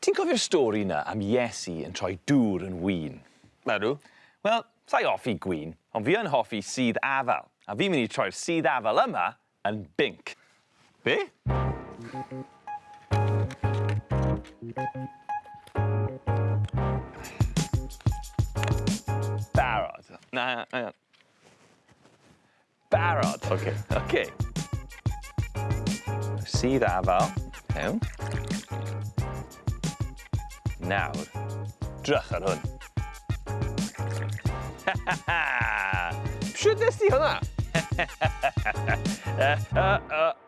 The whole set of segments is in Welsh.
Ti'n cofio'r stori 'na am Iesu yn troi dŵr yn win? Ydw. Wel, sa i hoffi gwin, ond fi yn hoffi sudd afal, a fi'n mynd i troi'r sudd afal yma yn binc. Be? Barod. Na, hang on. Barod! Oce. Oce. Sudd afal. Iawn. Nawr, drych ar hwn. Shwt nes di hwnna?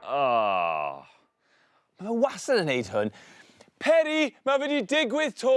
O! Mae fe wastad yn neud hwn. Peri, mae fe 'di digwydd 'to!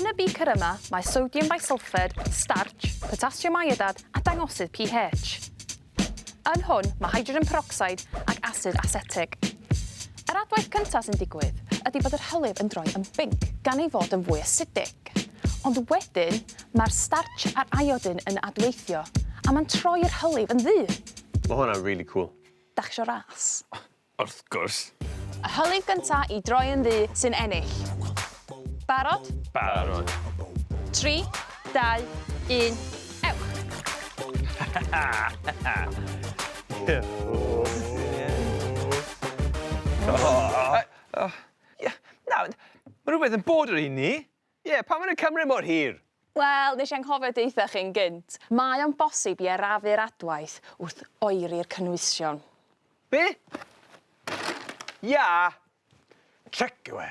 Yn y beaker yma mae sodium bisulphate, starch, potassium iodad a dangosydd pH. Yn hwn mae hydrogen peroxide ac asid asetig. Yr adwaith cyntaf sy'n digwydd ydy bod yr hylif yn droi yn binc gan ei fod yn fwy asidig. Ond wedyn mae'r starch a'r iodin yn adweithio a mae'n troi'r hylif yn ddu! Mae hwnna'n rili cŵl. Dach chi isio ras? Wrth gwrs. Y hylif gynta i droi yn ddu sy'n ennill. Barod? Barod. 3, 2, 1, ewch! Nawr, mae rhywbeth yn bod ar un ni. Ie, pam mae nhw'n cymryd mor hir? Wel, nes i anghofio deutha chi'n gynt. Mae o'n bosib i arafu'r adwaith wrth oeri'r cynwysion. Be? Ia! Tric yw e.